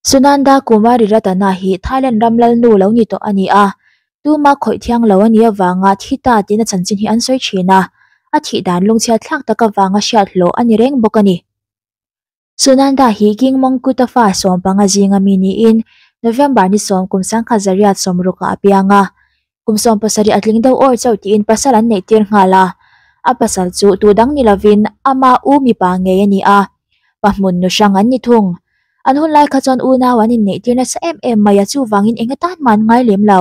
Sunanda Kumari Ratana hi Thailand ram lalnu lo ni tawh a ni a, tuma khawih thiang lo a nih avanga thi ta tiin a chanchin hi an sawi thin a, a thih dan lungchhiat thlak tak avanga hriathlawh a ni reng bawk a ni. Sunanda hi King Mongkuta fa sawm panga zinga mi niin November ni sawm kum sangkhat Zariat sawmrukah a piang a. Kum sawm pasarih a tling deuh awr chauh tiin pasal an neih tir nghal a. A pasal chu tu dang ni lovin ama u mipa ngei a ni a, pa hmun nu hrang an ni thung. An hunlai kha chuan unau an inneih tir nasa em em mai a, chuvangin eng a tan hman ngai lem lo.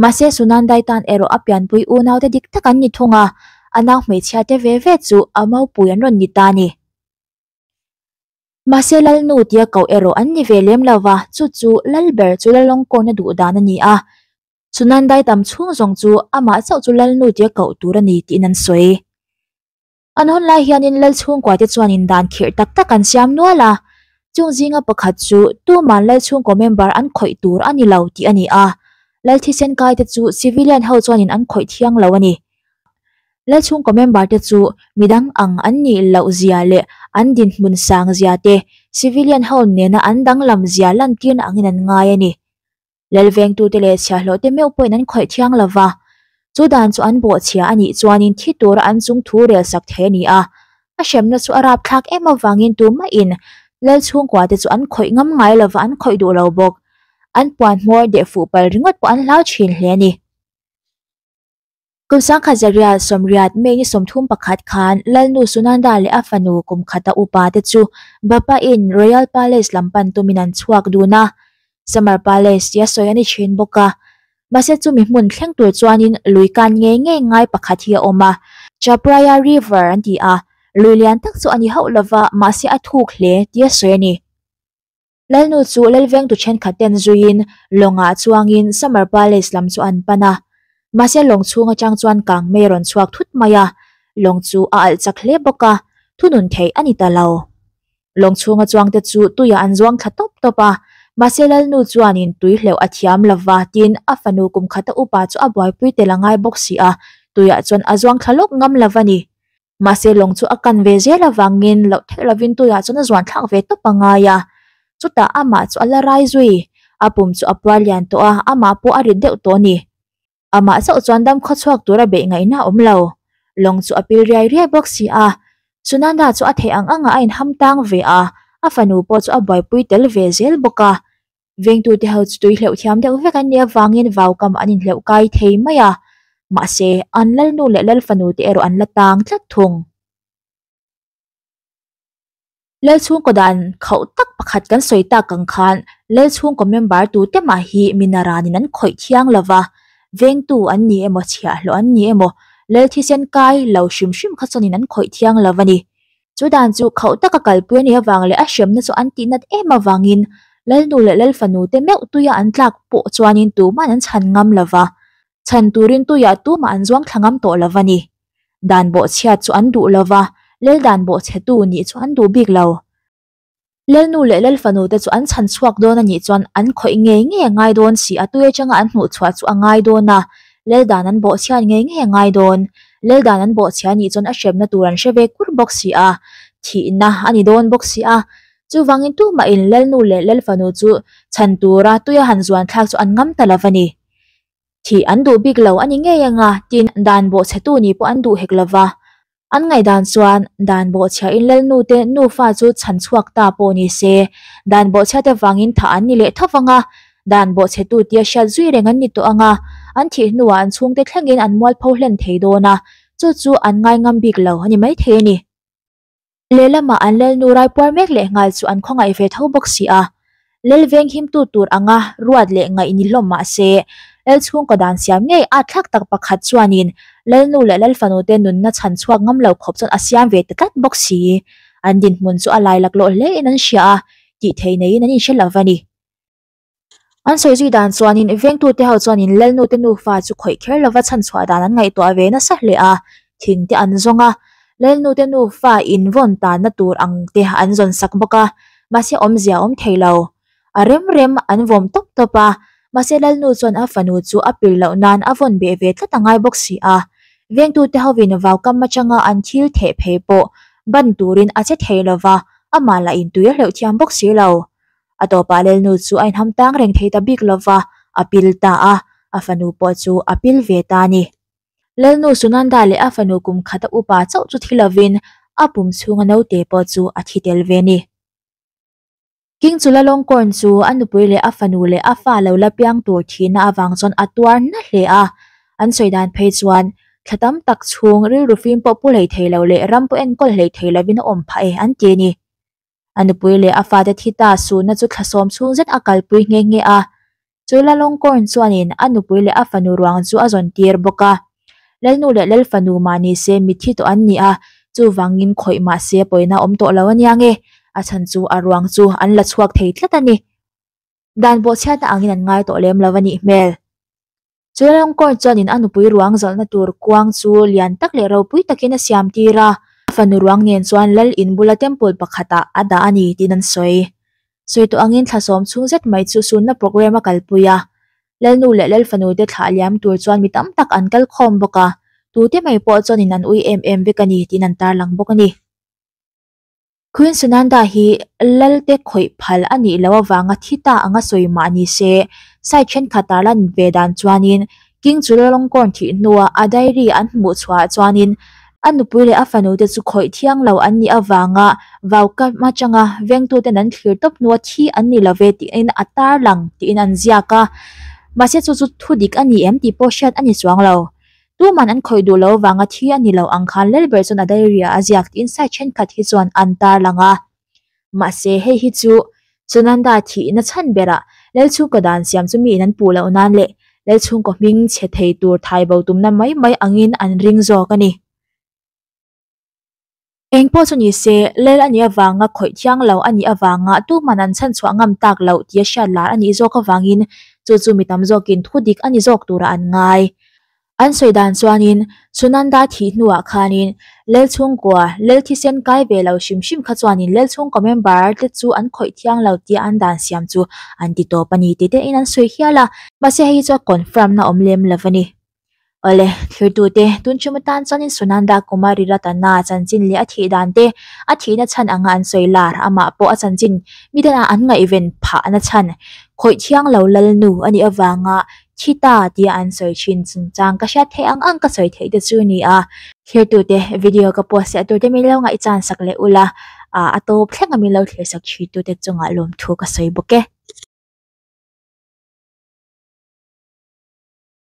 Mahse Sunandai tan erawh a pianpui unaute dik tak an ni thung a, a nau hmeichhiate ve ve chu a maupui an rawn ni ta a ni. Mahse Lalnu tia koh erawh an ni ve lem lo va, chu chu lal ber chu Lalawng kawina duh dan a ni a, Sunandai tam chhung zawng chu amah chauh chu Lalnu tia koh tur a ni tiin an sawi. An hawn lai hianin Lal chhungkawi te chuanin dan khirh tak tak an siam nual a, chung zinga pakhat chu tuman Lal chhungkaw member an khawih tur a ni lo tih a ni a, Lal thisen kai te chu civilian ho chuanin an khawih thiang lo a ni. Lal chhungkaw member te chu midang ang an nih loh zia leh an dinhmun sang zia te civilian ho nena an danglam zia lantirna angin an ngai a ni. Lal vengtute leh chhiahhlawhte meuh pawhin an khawih thiang lo va, chu dan chu an bawhchhia a nih chuanin thi tura an chung thu rel sak thei a ni a. A hremna chu a rapthlak em avangin tumahin Lal chhungkuate chu an khawih ngam ngai lo va, an khawih duh lo bawk. An puan hmawr deh fuh pal ringawt pawh an hlau thin hle a ni. Kun Sangkhat Zarial Sawmriat May ni sawmthum pakhat khan Lalnu Sunanda leh a fanu Kumkhata upa te chu Bapa in Royal Palace lam pan tumin an chhuak dun a, Summer Palace tia sawi a ni thin bawk a. Mahse chumi hmun thleng tur chuanin lui kan ngei ngei ngai pakhat hi a awm a, Chapraya River an ti a, lui lian tak chu a ni hauh lova mahse a thuk hle tia sawi a ni. Lalnu chu Lalvengtu thenkhat ten zuiin lawngah chuangin Summer Palace lam chu an pan a. Mahse lawng chhung atang chuan kang mei rawn chhuak thut mai a, lawng chu a alh chak hle bawk a, thunun theih a ni ta lo. Lawng chhunga chuang te chu tuiah an zuang thla tawp tawp a, mahse Lalnu chuanin tui hleuh a thiam lova tin a fanu kumkhata upa chu a buaipui tel a ngai bawk si a, tuiah chuan a zuang thla lawk ngam lova ni. mahse lawng chu a kan ve zel avangin loh theih lovin tuiah chuan a zuan thlak ve tawp a ngai a chutah amah chu a la rai zui a pum chu a puar lian tawh a amah pawh a ri deuh tawh a ni amah zauh chuan dam khaw chhuak tura beih ngaihna a awm lo lawng chu a pil riai riai bawk si a Sunanda chu a theih ang ang a a inham tang ve a a fanu pawh chu a buaipui tel ve zel bawk a Vengtute ho chu tui hleuh thiam deuh vek an ni avangin vau kam an inhleuh kai thei mai a, mahse, an lalnu leh lalfanu te erawh an la tang tlat thung. Lalchhungkaw dan khauh tak pakhat kan sawi tak ang khan Lalchhungkaw member tute mah hi mina ranin an khawih thiang lo va, vengtu an ni emaw, chhiahhlawh an ni emaw, Lalthisen kai lo hrim hrim kha chuanin an khawih thiang lo a ni. Chu dan chu khauh taka kalpui a nih avang leh a hriamna chu an tih nat em avangin Lalnu leh Lalfanu te meuh tuia an tlak pawh chuanin tuman an chhan ngam lo va, chhan turin tuiah tumah an zuang thla ngam tawh lo va ni. Dan bawhchhiat chu an duh lo va, lel dan bawhchhe tu nih chu an duh bik lo. Lalnu leh lalfanu te chu an chhan chhuak dawn a nih chuan an khawih ngei ngei a ngai dawn si a tui atanga an hmuh chhuah chu a ngai dawn a lal dan an bawh chhiat ngei ngei a ngai dawn lal dan an bawh chhia nih chuan a hrepna tur an hre ve kur bawk si a thihna a ni dawn bawk si a chuvangin tumahin lalnu leh lalfanu chu chhan tura tuia han zuan thlak chu an ngam ta lo a ni. Thih an duh bik lo a ni ngei anga tin dan bawh chhetu nih pawh an duh hek lova, an ngaihdan chuan dan bawh chhia in lal nute nufa chu chhan chhuak ta pawh ni se, dan bawh chhiate vangin thah an ni leh tho vanga, dan bawh chhetu tia hriat zui reng an ni tawh anga, an thih hnuah an chhungte thlengin an mualpho hlen thei dawn a, chu chu an ngai ngam bik lo a ni maithei a ni. Lehlamah an lelnu raipuar mek leh nghal chu an khawngaih ve tho bawk si a, lel venghimtu tur anga ruat leh ngaih ni hlawm mah se, lel chhungkaw dan siam ngei at thlak tak pakhat chuanin lelnu leh lel fanute nunna chhan chhuak ngam lo khawp chuan a siam ve ta tlat bawk si. An dinhmun chu a lailak lawh hlein an hria a, tih thei neiin an inhre lo va ni. An sawi zui dan chuanin i vengtute ho chuanin Lalnute nufa chu khawih kher lova chhanchhuah dan an ngaihtuah ve nasa hle a, thingte an zawng a. Lalnute nufa invawn tanna tur ang te an zawn sak bawk a, mahse awmzia a awm thei lo. A rem rem an vawm tawp tawp a, mahse Lalnu chuan a fanu chu a pil loh nan a vawn beh ve tlat a ngai bawk si a. Vengtute hovin vau kam atanga an thil theh phei pawh ban turin a che thei lova, amah lah in tui a hleuh thiam bawk si lo. a tawpa lelnu chu a inham tang reng thei ta bik lova a pil ta a, a fanu pawh chu a pil ve ta a ni. Lelnu Sunanda leh a fanu kum khata upa chauh chu thi lovin a pum chhunga naute pawh chu a thi tel ve ni. King Chulalongkorn chu a nupui leh a fanu leh a fa lo la piang tur thihna avang chuan a tuar na hle a, an sawi dan phei chuan thla tam tak chhung rilru fim pawh pu hlei thei lo leh ram pawh enkawlh hlei thei lovin a awm phah e an ti a ni. a nupui leh a fate thita suhna chu thlasawm chhung zet a kalpui nghe nghe a. Chu Lalawngkawn chuanin a nupui leh a fanu ruang chu a zawn tir bawk a. Lalnu leh Lalfanu mahni se mithi tawh an ni a, chuvangin khawih mahse pawina awm tawh lo ania nge, a chhan chu a ruang chu an la chhuak thei tlat a ni. Dan bawhchhiatna angin an ngai tawh lem lo a nih hmel. Chu Lalawngkawn chuanin a nupui ruang zawlhna tur kuang chu lian tak leh ropui takin a siam tir a, a fanu ruang nen chuan Lal in bula temple pakhatah a dah a ni tiin an sawi. Sawi tawh angin thla sawm chhung zet mai chu sunna programme a kalpui a, Lalnu leh Lalfanu te thlah liam tur chuan mi tam tak an kal khawm bawk a, tute mai pawh chuanin an ui em em vek a ni tiin an tarlang bawk a ni. Queen Sunanda hi Lalte khawih phal a nih loh avanga thi ta anga sawi mah ni se, site thenkhat ah lan ve dan chuanin King Chulalongkorn thih hnua a diary an hmuh chhuah chuanin a nupui leh a fanu te chu khawih thiang lo an nih avanga vau kam atanga vengtu ten an thlir tawp hnua thi an ni lo ve tiin a tarlang tiin an ziak a, mahse chu chu thudik a ni em tih pawh hriat a ni chuang lo. Tu man an khawih duh lo vanga thi a ni lo ang khan lel ber chuan a diary-ah a ziak tiin site thenkhat hi chuan an tar lang a. Mahse, hei hi chu Sunanda thihna chhan berah lel chhungkaw dan siam chu mi in an puh loh nan leh lel chhungkaw hming chhe thei tur thaibo tumna mai mai angin an ring zawk a ni. Eng pawh chu ni se, lel a nih avanga khawih thiang lo a nih avanga tu hman an chhan chhuah ngam tak loh tia hriat lar a nih zawk avangin chu chu mi tam zawkin thu dik a ni zawk tura an ngai. An sawi dan chuanin Sunanda thih hnuah khanin lel chhungkaw, lel thisen kai ve lo hrim hrim kha chuanin lel chhungkaw member te chu an khawih thiang lo tia an dan siam chu an ti tawp a ni tih te in an sawi hial a. Mahse hei hi chu a confirm na awm lem lo a ni. Awle, thluitute, tun chhum atan chuan in Sunanda Kumari Ratana a chanchin leh a thih dan te, a thihna chhan anga an sawi lar, amah pawh a chanchin midana an ngaihven phahna chhan khawih thiang lo lal nu a nih avanga thi ta tia an sawi thin chungchang ka hriat theih ang ang ka sawi theih te chu a ni a. Thluitute, video ka post leh tur te min lo ngaihchan sak leh ula, a tawp thlenga min lo thirsak thitute chunga lawmthu ka sawi bawk e.